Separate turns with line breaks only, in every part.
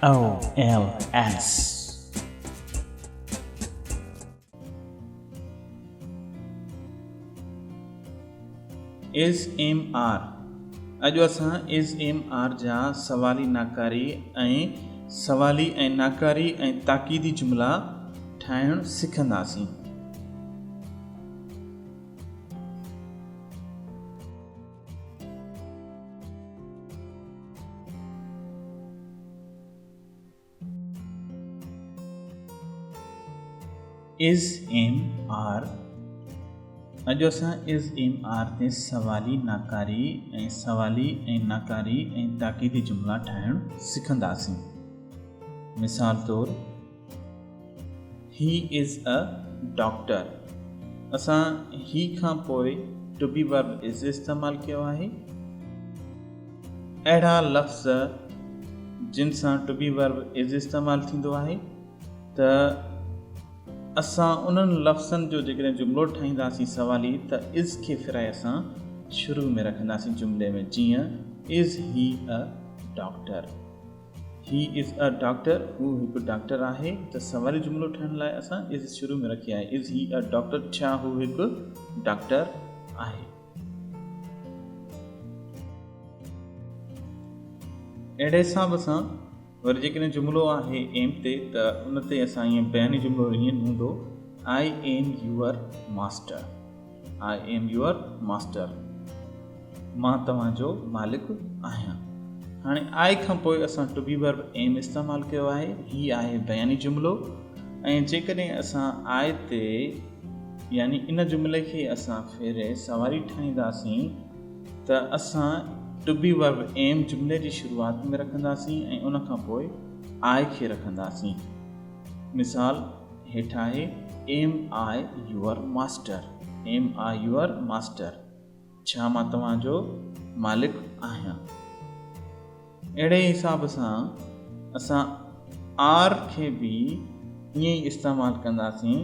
OLS. Is am are اڄ اسان is am are جا سوالي ناڪاري ۽ سوالي ۽ ناڪاري ۽ تاڪيدي جملا ٺاهڻ سکنداسين از ايم آر اڄ اسان از ايم آر تي سوالي ناڪاري ۽ سوالي ۽ ناڪاري ۽ تاڪيدي جملا ٺاهڻ سکنداسين مثال طور He is a doctor اسان he کان پوء to be verb is استعمال ڪيو آهي. اهڙا لفظ جن سان to be verb is استعمال ٿيندو آهي ته اسان انهن لفظن جو جيڪڏهن جملو ٺاهينداسين سوالي ته is کي ڦيرائي اسان شروع ۾ رکنداسين جملي ۾ جيئن Is he a doctor؟ He is a doctor، هو هڪ ڊاڪٽر آهي، ته سوالي جملو ٺاهڻ لاء اسان is شروع ۾ رکي آهي، Is he a doctor، ڇا هو هڪ ڊاڪٽر آهي؟ اهڙي حساب سان وري جيڪڏهن جملو آهي am تي ته ان تي اسان ائين بياني جملو ائين هوندو I am your master. I am your master مان توهان جو مالڪ آهيان هاڻي آء کان پوء اسان ٽو بي ورب ايم استعمال ڪيو آهي هي آهي بياني جملو ۽ جيڪڏهن اسان آء تي يعني ان جملي کي اسان ڦيري سواري ٺاهينداسين ته اسان ٽو بي ورب ايم جملي جي شروعات ۾ رکنداسين ۽ ان کان پوء آء کي رکنداسين مثال هيٺ آهي، Am I your master؟ Am I your master؟ ڇا مان توهان جو مالڪ آهيان؟ اهڙي حساب سان اسان آر کي به ائين ئي استعمال ڪنداسين.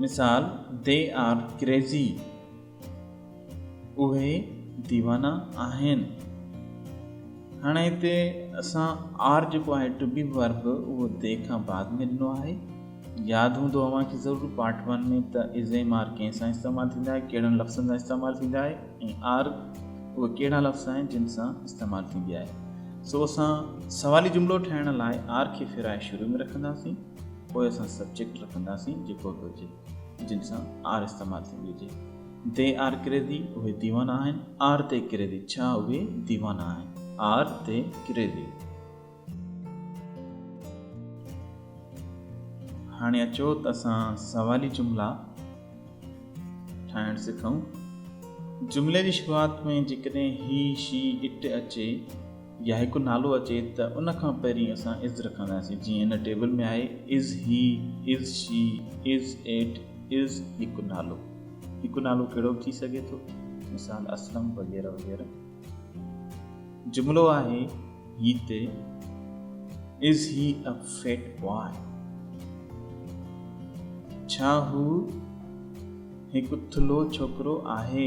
مثال، They are crazy. اهي ديوانا آهن. هاڻي هتي اسان آر جيڪو آهي ٽو بي ورب اهو دي کان بعد ۾ ڏنو آهي. ياد هوندو اوهان کي ضرور پارٽ ون ۾ ته ازيم آر ڪنهن سان استعمال ٿيندا آهي ڪهڙن لفظن سان استعمال ٿيندا آهي ۽ آر اهي ڪهڙا لفظ آهن جن سان استعمال ٿيندي آهي سو اسان سوالي جملو ٺاهڻ لاء آر کي ڦيرائي شروع ۾ رکنداسين پوء اسان سبجيڪٽ رکنداسين جيڪو به هجي جن سان آر استعمال ٿيندي هجي. دي آر ڪريزي، اهي ديوانا آهن. آر دي ڪريزي، ڇا اهي ديوانا آهن. Are they crazy. هاڻي اچو ته اسان سوالي جملا ٺاهڻ سکون. جملي جي شروعات ۾ جيڪڏهن هي، شي، اٽ اچي، يا هڪ نالو اچي ته ان کان پهرين اسان از رکنداسين جيئن هن ٽيبل ۾ آهي از هي از شي از اٽ از هڪ نالو هڪ نالو ڪهڙو به ٿي سگهي ٿو مثال اسلم وغيره وغيره جملو آهي هي تي از هي ا فيٽ بوائي ڇا هو هڪ ٿلهو ڇوڪرو آهي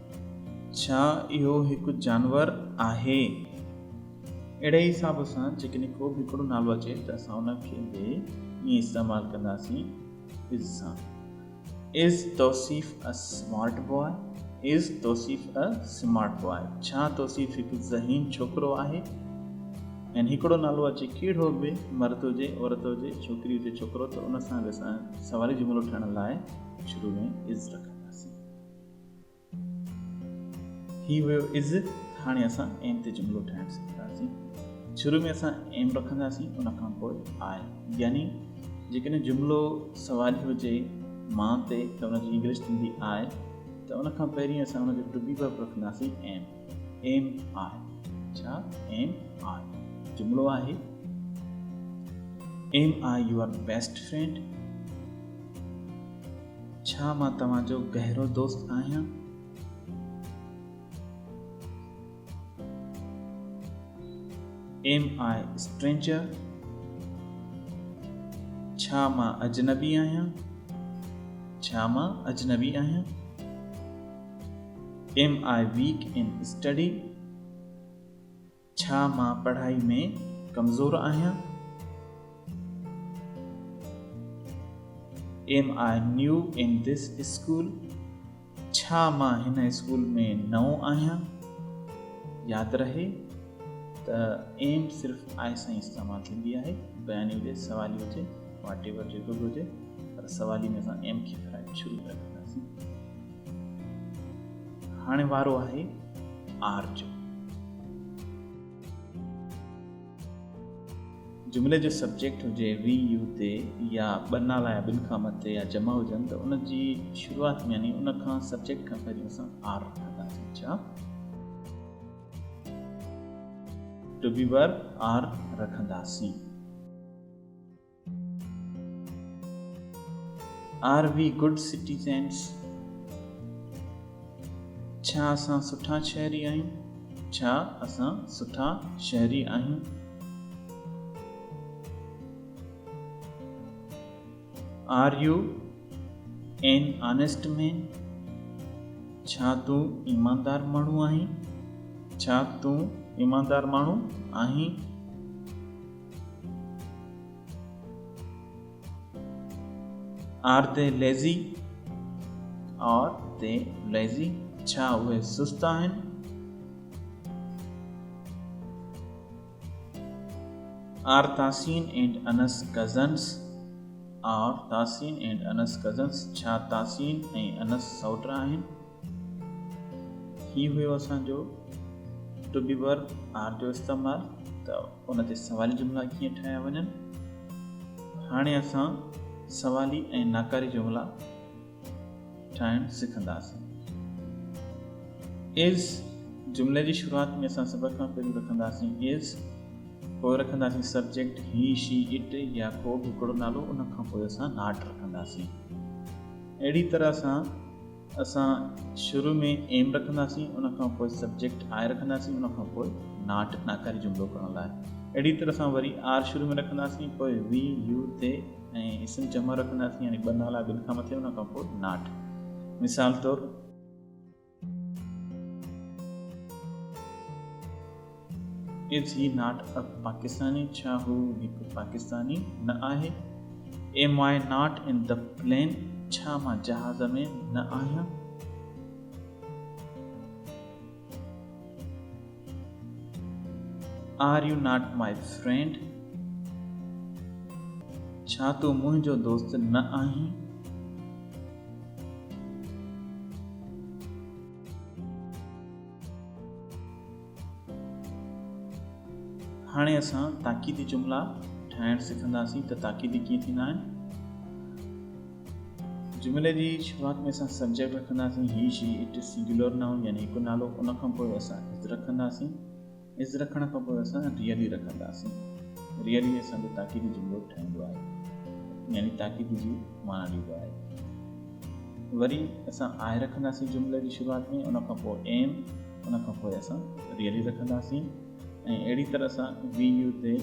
ڇا اهو هڪ جانور آهي؟ اهڙي حساب سان جيڪڏهن ڪو به هڪڙو نالو اچي ته اسان ان کي به ائين استعمال ڪنداسين از سان. Is Tauseef a smart boy؟ Is Tauseef a smart boy؟ ڇا توصيف هڪ ذهين ڇوڪرو آهي؟ ۽ هڪڙو نالو اچي ڪهڙو به مرد هجي، عورت هجي، ڇوڪري هجي، ڇوڪرو ته ان سان به اسان سوالي جملو ٺهڻ لاء شروع ۾ از رکنداسين. ٿي ويو از هاڻي اسان ايم تي جملو ٺاهڻ سکنداسين شروع ۾ اسان ايم رکنداسين ان کان پوء آء يعني جيڪڏهن جملو سوالي هجي مان تي ته ان جي انگلش ٿيندي آء ته ان کان پهرين اسان ان جو ٽبي ورب رکنداسين ايم ايم آء ڇا ايم آء جملو آهي am I your best friend ڇا مان توهان جو گهرو دوست آهيان؟ Am I a stranger؟ ڇا مان اجنبي آهيان؟ ڇا مان اجنبي آهيان؟ Am I weak in study؟ ڇا مان پڙهائي ۾ ڪمزور آهيان؟ Am I new in this school؟ ڇا مان هن اسڪول ۾ نئون آهيان؟ ياد رهي ته Am صرف I سان ئي استعمال ٿيندي آهي، بياني هجي، سوالي هجي، واٽ ايور جيڪو به هجي، پر سوالي ۾ اسان Am کي شروع ۾ رکنداسين. هاڻي وارو آهي آر جو. جملي جو سبجيڪٽ هجي وي يو تي يا ٻه نالا يا ٻن کان مٿي يا جمع هجن ته ان جي شروعات ۾ يعني ان کان سبجيڪٽ کان پهريون اسان آر رکنداسين ڇا ٽو بي ورب آر رکنداسين. Are we good citizens? ڇا اسان سٺا شهري آهيون؟ ڇا اسان سٺا شهري آهيون؟ Are you an honest man? ڇا تون ايماندار ماڻهو آهين؟ ڇا تون ايماندار ماڻهو آهين؟ Are they lazy are they lazy ڇا اهي سست آهن؟ Are تاسين and Anas cousins are تاسين and Anas cousins ڇا تاسين ۽ انس سئوٽ آهن؟ هي هيو اسان جو ٽو بي ورب آر جو استعمال ته ان تي سوالي جملا ڪيئن ٺاهيا وڃن هاڻي اسان سوالي ۽ ناڪاري جملا ٺاهڻ سکنداسين از جملي جي شروعات ۾ اسان سڀ کان پهريون رکنداسين از پوء رکنداسين سبجيڪٽ هي شي اٽ يا ڪو به هڪڙو نالو ان کان پوء اسان ناٽ رکنداسين اهڙي طرح سان اسان شروع ۾ ايم رکنداسين ان کان پوء سبجيڪٽ آء رکنداسين ان کان پوء ناٽ ناڪاري جملو ڪرڻ لاء اهڙي طرح سان وري آر شروع ۾ رکنداسين پوء وي يو تي ۽ اسم جمع رکنداسين يعني ٻه نالا ٻن کان مٿي ان کان پوء ناٽ مثال طور از هي ناٽ اي پاڪستاني، ڇا هو هڪ پاڪستاني نه آهي؟ Am I not in the plane, ڇا مان جهاز ۾ نه آهيان؟ Are you not my friend, ڇا تون منهنجو دوست نه آهين؟ هاڻي اسان تاڪيدي جملا ٺاهڻ سکنداسين ته تاڪيدي ڪيئن ٿيندا آهن. جملي جي شروعات ۾ اسان سبجيڪٽ رکنداسين he she it singular noun يعني هڪ نالو ان کان پوء اسان از رکنداسين از رکڻ کان پوء اسان ريئلي رکنداسين ريئلي اسان جو تاڪيدي جملو ٺاهيندو آهي يعني تاڪيدي جي معنی ڏيندو آهي وري اسان آهي رکنداسين جملي جي شروعات ۾ ان کان پوء ايم ان کان پوء اسان ريئلي رکنداسين ۽ اهڙي طرح سان we you they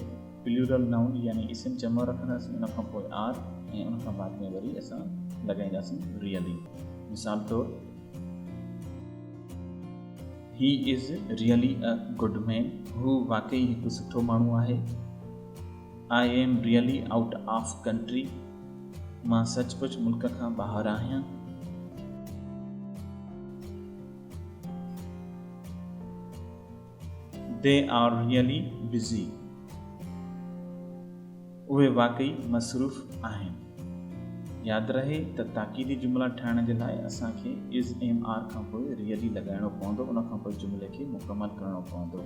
plural noun يعني اسم جمع رکنداسين ان کان پوء آر ۽ ان کان بعد ۾ وري اسان لڳائينداسين ريئلي مثال طور he is really a good man هو واقعي هڪ سٺو ماڻهو آهي I am really out of country مان سچ پچ ملڪ کان ٻاهر آهيان They are really busy. اهي واقعي مصروف آهن. ياد رهي ته تاڪيدي جملا ٺاهڻ جي لاء اسان کي is am are کان پوء really لڳائڻو پوندو ان کان پوء جملي کي مڪمل ڪرڻو پوندو.